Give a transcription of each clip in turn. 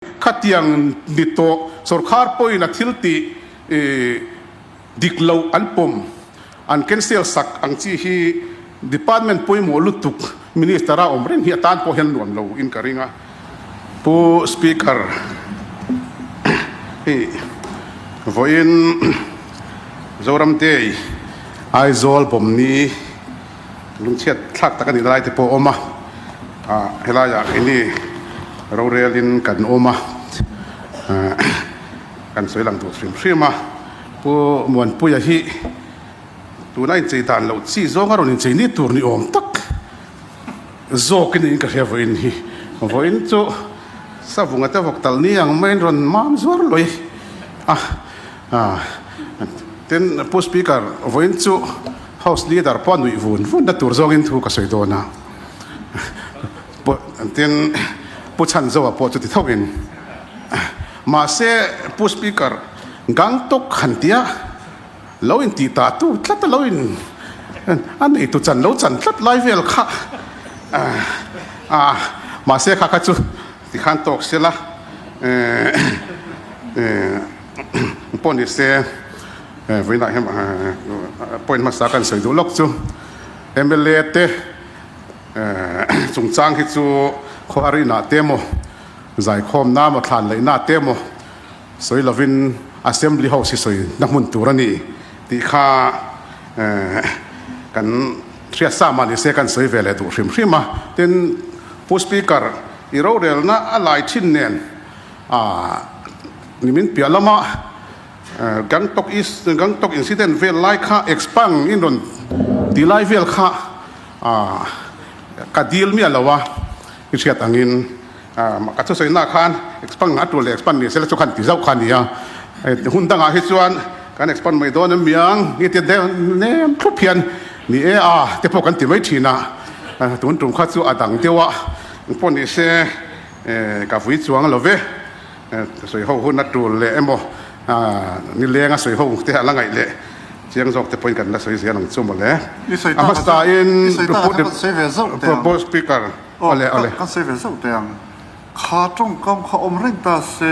Khatiang ni tawh sorkar pawhin a thil tih dik loh an pawm, an cancel sak ang chi hi department pawimawh lutuk minister a awm reng hi a tan pawh hian nuam loin ka ring a. Pu Speaker hi vawiin Zoramte Aizawl Bawmni. lung chhiat thlak tak a nih na lai te pawh a awm a ah helai ah eng nge rorel in kan awm a ah kan sawi lang tur hrim hrim a pu muanpuia hi tuna inchei dan loh chi zawng a rawn inchei ni tur ni awm tak zawk in ka hria vawiin hi vawiin chu savunga te vawk tal ni ang maiin rawn mam zuar lawi a ah tin pu speaker vawiin chu. House leader pawh a nuih vun vun na tur zawngin thu ka sawi dawn a. Tin, Pu Chanzoa pawh chuti thawkin, Mahse, Pu Speaker, Gangtok han ti a, lo intih ta tu tlat a lo in, a neitu chan lo chan tlat lai vel kha, ah, mahse kha kha chu tikhan tawk sia la, eh, eh. pawh ni se eh vawiinah hian eh point hmasa kan sawi duh lawk chu mla te eh chungchang hi chu khuarinah te maw zaikhawmna maw thlan laihna te maw sawi lovin assembly ho sisawi na hmun tur a ni tih kha eh kan hriatsa mah ni se kan sawi ve leh duh hrim hrim a tin pu speaker i rorelna a lai thin nen ah. Nimin piah lama Gangtok East Gangtok incident vel lai kha expang in rawn tih lai vel kha ka dil miah lo a, i hriat angin ka thusawihna'ah khan expang a tul leh expang ni sela chu kha an ti zauh kha a ni a, hun dangah hi chuan kan expang mai dawn em miang nge tia deuh nem thup hian ni e a te pawh kan ti mai thin a, tun tum kha chu a dang deuh a, engpawh ni se ka vui chuang lo ve. sawi ho huna tul leh emaw ni lenga sawi ho te a la ngaih leh chiang zawk te pawhin kan la sawi zel ang chu mawle a hmasa in propose speaker awle awle kan sawi ve zauh teh ang kha tawngkam kha awm reng ta se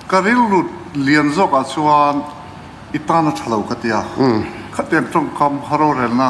ka rilru lian zawk ah chuan i tana thalo ka tia khatiang tawngkam rorelna.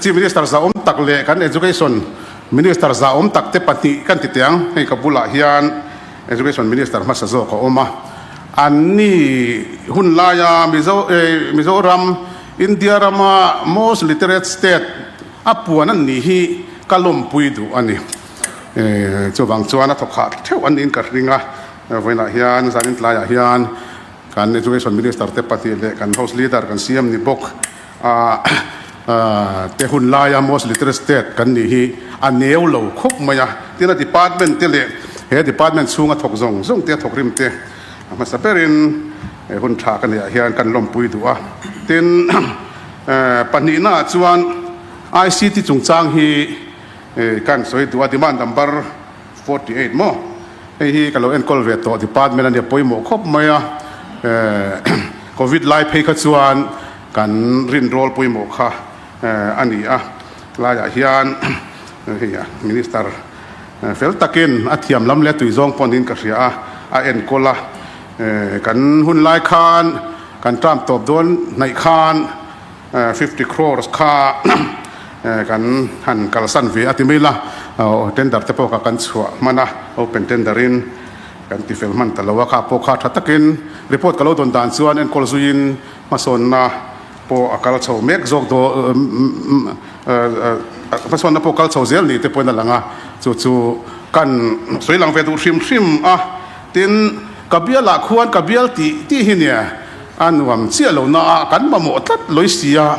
Chief Minister zahawm tak leh kan Education Minister zahawm tak te pahnih kan ti teh ang. Hei ka bulah hian Education Minister hmasa zawk a awm a. An ni hun laia Mizo eh Mizoram India rama most literate state a puan an nih hi ka lawmpui duh a ni. Eh chuvang chuan a thawkha theuh an niin ka hring a. Vawiinah hian zan in tlaiah hian kan Education Minister te pahnih leh kan House Leader kan CM ni bawk A te hun laia most literate state kan nih hi a neu lo khawp mai a, tin a department te leh he department chhunga thawk zawng zawng te thawk rim te hmasa berin he hun tha ka neih ah hian kan lawmpui duh a, tin pahnihna ah chuan ICT chungchang hi kan sawi duh a demand number forty eight maw hei hi ka lo enkawl ve tawh department a nia pawimawh khawp mai a covid lai phei kha chuan kan rinrawl pawimawh kha a ni a laiah hian hei a minister fel takin a thiamlam leh a tui zawng pawh niin ka hria a a enkawl a kan hun lai khan kan tramp tawp dawn hnaih khan fifty crores kha kan han kalsan ve a ti mai la aw tender te pawh kha kan chhuah hman a open tender in kan ti fel hman ta lo a kha pawh kha tha takin report ka lo dawn dan chuan enkawl zui in hmasawnna pawh a kal chho mek zawk daw hmasawnna pawh kal chho zel ni te pawhin a lang a chu chu kan sawi lang ve duh hrim hrim a tin ka bial ah khuan ka bial tih tih hi nia. A nuam chiah lohna ah kan mamawh tlat lawi si a,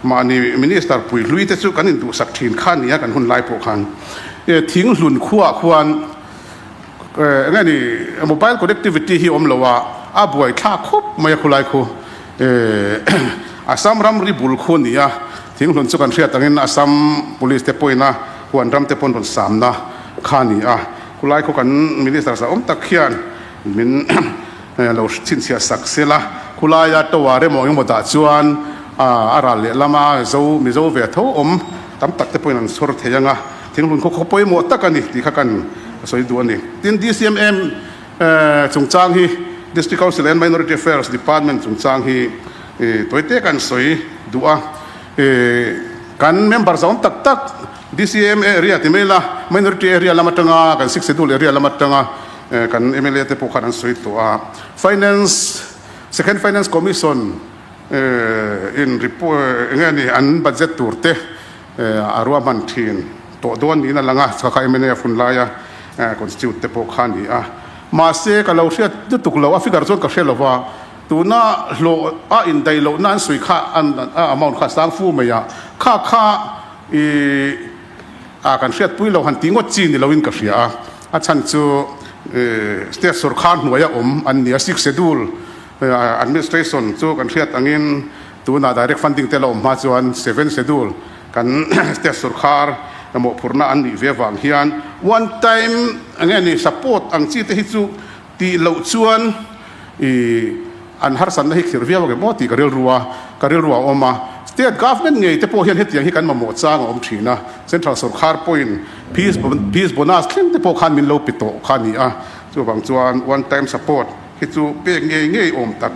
mahni Minister puihluii te chu kan induhsak thin kha nia kan hun lai pawh khan thing hlun khua ah khuan engemaw mobile connectivity hi awm lo a, a buai thlak khawp mai a khulai khu Assam ramri bul khu nia thing hlun chu kan hriat ang in Assam Police te pawhin a huan ram te pawhin rawn sam na kha nia khulai khu kan Minister zawm tak hian min Hei a lo chhinchhiah sak sil a, khulaia tower emaw engemaw dah chuan a ral leh lama zo mizo ve tho awm tam tak te pawh in an sawr thei ang a, thinghun khaw khaw pawimawh tak a ni tih kha kan sawi duh a ni. Tin, DCMM chungchang hi District Council and Minority Affairs Department chungchang hi tawi te kan sawi duh a, kan member zawm tak tak DCMM area ti mai ila Minority area lam atanga kan Sikse dul area lam atanga Kan mla te pawh khan an sawi tawh a. Finance, Second Finance Commission in report, enge ni, an budget tur te a ruahman thin tawh dawn niin a lang a, chhaka kha mla a fun lai a, constitute te pawh kha a ni a. Mahse, ka lo hriat lutuk lo a, figure chuan ka hre lova, tuna hlawh a indaih lohna an sawi kha, an amount kha a sang fu mai a, kha kha i, ah kan hriat pui lo han tih ngawt chi ni lo in ka hria a, a chhan chu state sawrkhar hnuai a awm an ni a sixth schedule administration chu kan hriat ang in tunah direct funding te la awm hma chuan seventh schedule kan state sawrkhar mawhphurhna an nih ve vang hian one time enge ni support ang chi te hi chu Tih loh chuan i an harsatna hi khirh viau reng maw tih ka rilru a, ka rilru a awm a. State government ngei te pawh hian hetiang hi kan mamawh chang a awm thin a, central sawrkhar pawhin fees fees bonus thleng te pawh khan min lo pe tawh kha ni a, chuvang chuan one time support hi chu pek ngei ngei awm tak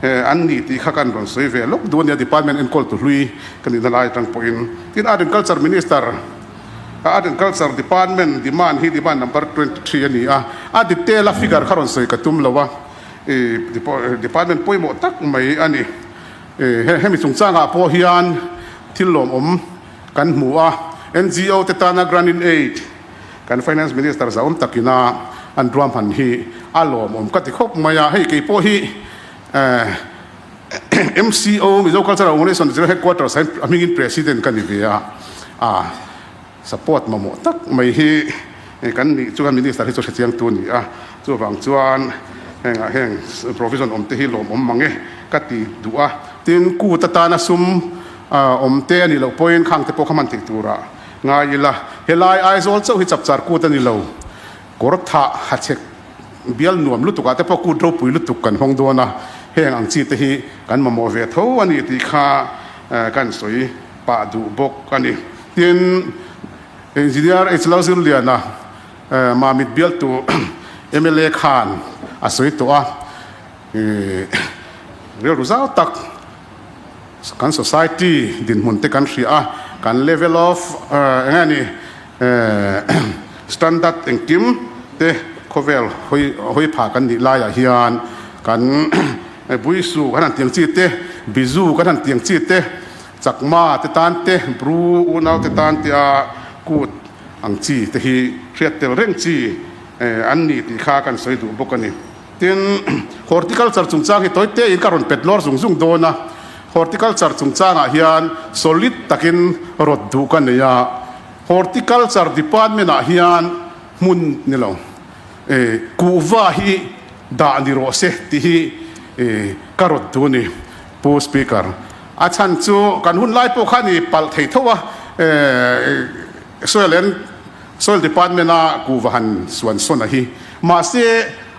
an ni tih kha kan rawn sawi ve lawk duh a nia department enkawl tu hlui ka nihna lai atang pawhin. Tin, Agriculture Minister. a Agriculture Department demand hi demand number twenty three a ni a, a detail a figure kha rawn sawi ka tum lo a, ih department pawimawh tak mai a ni, ih hemi chungchangah pawh hian thil lawm awm kan hmu a, NGO te tana grant in aid kan Finance Minister zaawm takina an ruahman hi a lawm awm ka ti khawp mai a, hei keipawh hi eh. MCO, Mizo Cultural Organisation zir headquarters ah hian a hmingin President ka ni ve a, ah support mamawh tak mai hi kan nih chuan Minister hi chu hrechiangtu a ni a, chuvang chuan hengah heng provision awmte hi lawm awm mange ka ti duh a, tin kut atana sum awmte a nih loh pawhin khangte pawh kha hman theih turah ngai ila, helai Aizawl chauh hi chapchar kut a ni lo. Kawr thah ha chhek bial nuam lutuk ah te pawh kut ropui lutuk kan hawng dawn a, heng ang chi te hi kan mamawh ve tho a ni tih kha ka in sawi pah duh bawk a ni. Tin, Engineer Hlo Zirliana mah mit bialtu mla khan a sawi tawh a, rilru zau tak kan society dinhmun te kan hria a, kan level of eng nge ni Standard engkim te khawvel hawi phah kan nih laiah hian kan Buisu kan han tih ang chi te, Bizu kan han tih ang chi te, Chakma te tan te, Bru, Unau te tan te a kut ang chi te hi hriat tel reng chi an ni tih kha kan sawi duh bawk a ni. Tin, Horticulture chungchang hi tawi tein ka rawn pet lawr zung zung dawn a. Horticulture chungchangah hian solid takin rawt duh ka nei a. Horticulture department-ah hian hmun ni lo, eh, kuhva hi dah ni rawh se tih hi, eh, ka rawt duh a ni, Pu Speaker. A chhan chu kan hun lai pawh khan i palh thei tho a, eh, Soil and Soil Department a kuhva han suan sawn a hi. Mahse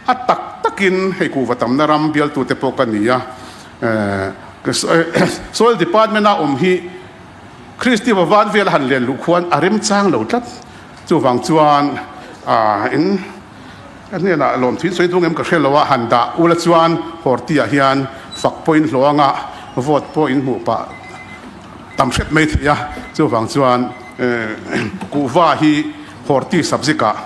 a tak takin hei kuhva tamna ram bialtute pawh ka ni a. Soil Department a awm hi Kristi vavan vel a han len luh khuan a remchang lo tlat. Chuvang chuan in ka hnenah lawmthin sawi dungem ka hre lo a, han dah ula chuan Horti-ah hian fakpawhin hlawh anga vote pawh in hmuh pah. Tam hret mai theih a, chuvang chuan kuhva hi horti subject ah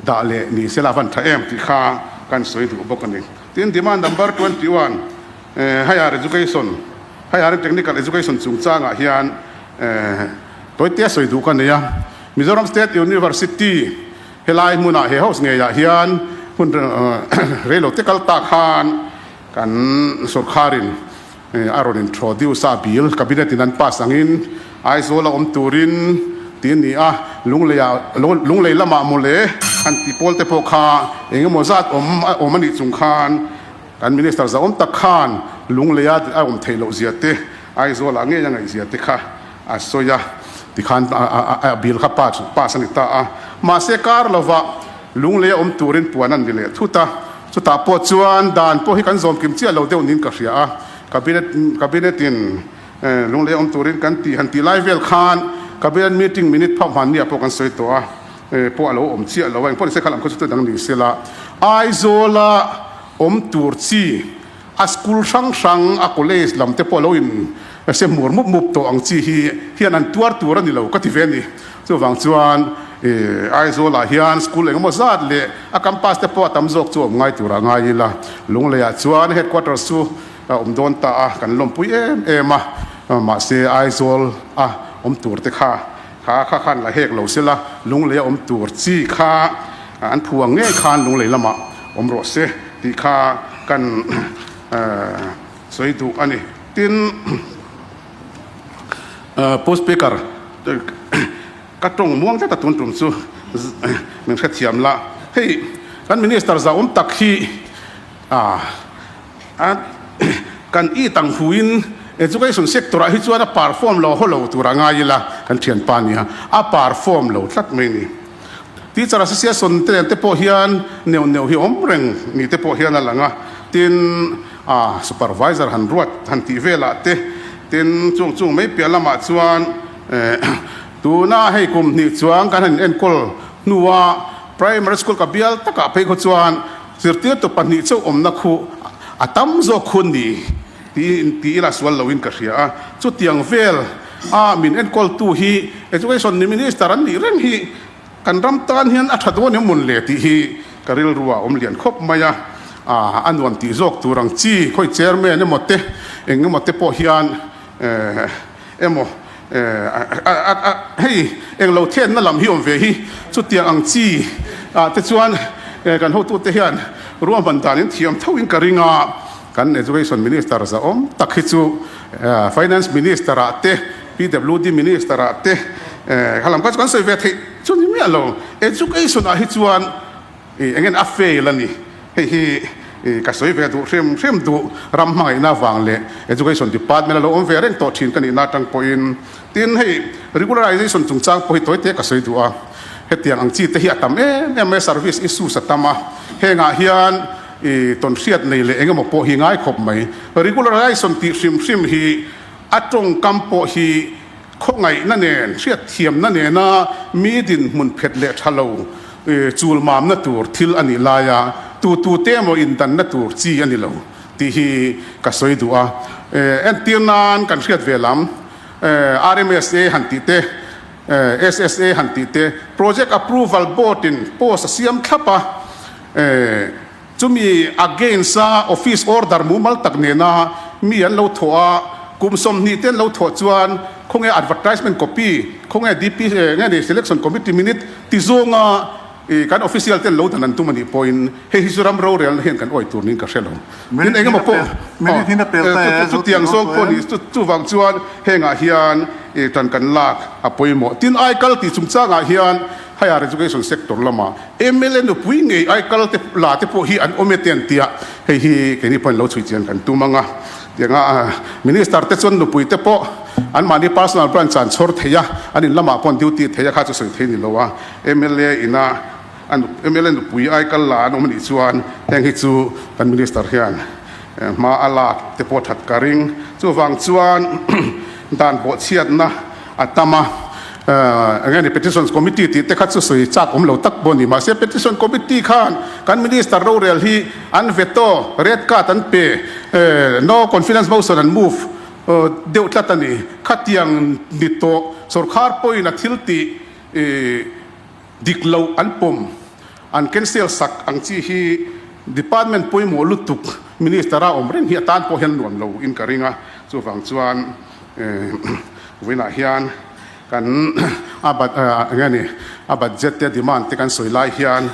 dah leh ni sela van tha em tih kha kan sawi duh bawk a ni. Tin, Demand number twenty one, Higher Education, Higher and Technical Education chungchangah hian tawite sawi duh ka nei a, Mizoram State University helai hmunah he host ngeiah hian hmun reilote kal ta khan kan sorkharin, a rawn introduce a, a bill cabinet in an pass angin Aizawl a awm turin tih a ni a, Lunglei ah Lunglei lamah maw le kan tih pawl te pawh kha eng emaw zat awm a awm a nih chung khan kan minister zauawm tak khan Lungleia a awm theih loh zia te Aizawlah ngei a ngaihzia te kha A sawi a, tikhan a bil kha pass a ni ta a. Mahse kar lovah Lunglei a awm turin puan a ni leh thut a. Chutah pawh chuan dan pawh hi kan zawmkim chiah lo deuh niin ka hria a. Cabinet Cabinet in Lunglei a awm turin kan tih han tih lai vel khan Cabinet meeting minute phah hman nia pawh kan sawi tawh a, pawh a lo awm chiah lo a, engpawh ni se kha lam khaw chu chu dang ni sela Aizawla awm tur chi, A school hrang hrang, a college lam te pawh a lo in se hmur mup mup tawh ang chi hi hian an tuar tur a ni lo ka ti ve a ni. Chuvang chuan i Aizawl ah hian school engemaw zat leh a campus te pawh a tam zawk chu awm ngai tur a ngai ila, Lunglei ah chuan headquarters chu a awm dawn ta a, kan lawmpui em em a, mahse Aizawl a awm tur te kha, Tha kha khan a hek lo se la, lunglei a awm tur chi kha an phu ang ngei khan lunglei lamah awm rawh se tih kha kan sawi duh a ni. Tin, Pu Speaker, ka tawng muang tlat a tun tum chu min hrethiam la, hei kan Minister zahawm tak hi, a kan i tang hu in education sector ah hi chuan a perform lo holo tur a ngai ila kan thianpa nia a perform lo tlat mai ni teacher associate sawn te nen te pawh hian neuh neuh hi awm reng ni te pawh hian a lang a tin a supervisor han ruat han tih vel ah te tin chung chung mai piah lam ah chuan eh tuna hei kum hnih chuan kan han in enkawl hnu a primary school ka bial tak ah phei khaw chuan Zirtirtu pahnih chauh awmna khu a tam zawk khu ni tiin ti ila sual lo in ka hria a, chutiang vel a min enkawltu hi Education ni Minister an nih reng hi kan ram tan hian a tha dawn em un le tih hi ka rilru a awm lian khawp mai a, a nuam tih zawk tur ang chi khawi Chairman emaw te eng emaw te pawh hian. Emaw, eh, hei englo thlenna lam hi awm ve hi. Chutiang ang chi ah te chuan kan hotu te hian ruahman dan in thiam tho in ka ring a. Kan Education Minister zahawm tak hi chu Finance Minister ah te PWD Minister ah te eh, kha lam kha chu kan sawi ve theih chu ni miah lo. Education ah hi chuan, I engin a fail a ni. Hei hi i ka sawi ve duh hrim hrim duh ram hmangaihna vang leh Education Department a lo awm ve reng tawh thin ka nihna atang pawhin. Tin, hei Regularization chungchang pawh hi tawi te ka sawi duh a, hetiang ang chi te hi a tam em em mai, service issues a tam a, hengah hian i tawn hriat nei leh engemaw pawh hi ngai khawp mai. Regularization tih hrim hrim hi a tawngkam pawh hi, Khawngaihna nen hriatthiamna nena mi dinhmun phet leh tha lo chulmamna tur thil a nih lai a, tutute emaw indanna tur chi a ni lo tih hi ka sawi duh a. Entir nan kan hriat ve lam, RMSA han tih te, SSA han tih te, Project Approval Board-in post a siam thlap a. Chumi against a office order mumal tak nena mi an lo thawh a, kum sawmhnih te an lo thawh chuan khawnge advertisement copy, khawnge DP nge ni selection committee minute ti zawnga kan official ten lo dan an tum a nih pawhin hei hi chu ram rorel na hian kan awih tur niin ka hre lo. Tin eng emaw pawh aw chutiang zawng pawh ni chuvang chuan hengah hian tan kan lak a pawimawh tin aikal tih chungchangah hian Higher education sector lama mla nupui ngei ai kal te la te pawh hi an awm e ten tia hei hi keini pawhin lo chhui chian kan tum anga tiang a minister te chuan nupui te pawh an mahni personal branch an chhawr thei a an in lamah pawh an duty thei a kha chu sawi thei ni lo a mla ina a nup mla nupui ai kal la an awm a nih chuan heng hi chu kan minister hian hma a lak te pawh that ka ring chuvang chuan dan bawhchhiatna a tam a, enge ni Petitions Committee tih te kha chu sawi chak awm lo tak pawh a ni, mahse Petition Committee khan kan Minister rorel hi an veto, red card, an pe, no confidence motion an move deuh tlat a ni, khatiang ni tawh sawrkar pawhin a thil tih. Dik lo an pawm, an cancel sak ang chi hi department pawimawh lutuk minister a awm reng hi atan pawh hian nuam lo in ka ring a, chuvang chuan vawiinah hian kan a budget te a demand te kan sawi lai hian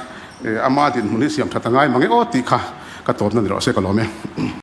ama dinhmun hi siam that a ngai mang e aw tih kha ka tawpna ni loh se ka lawm e.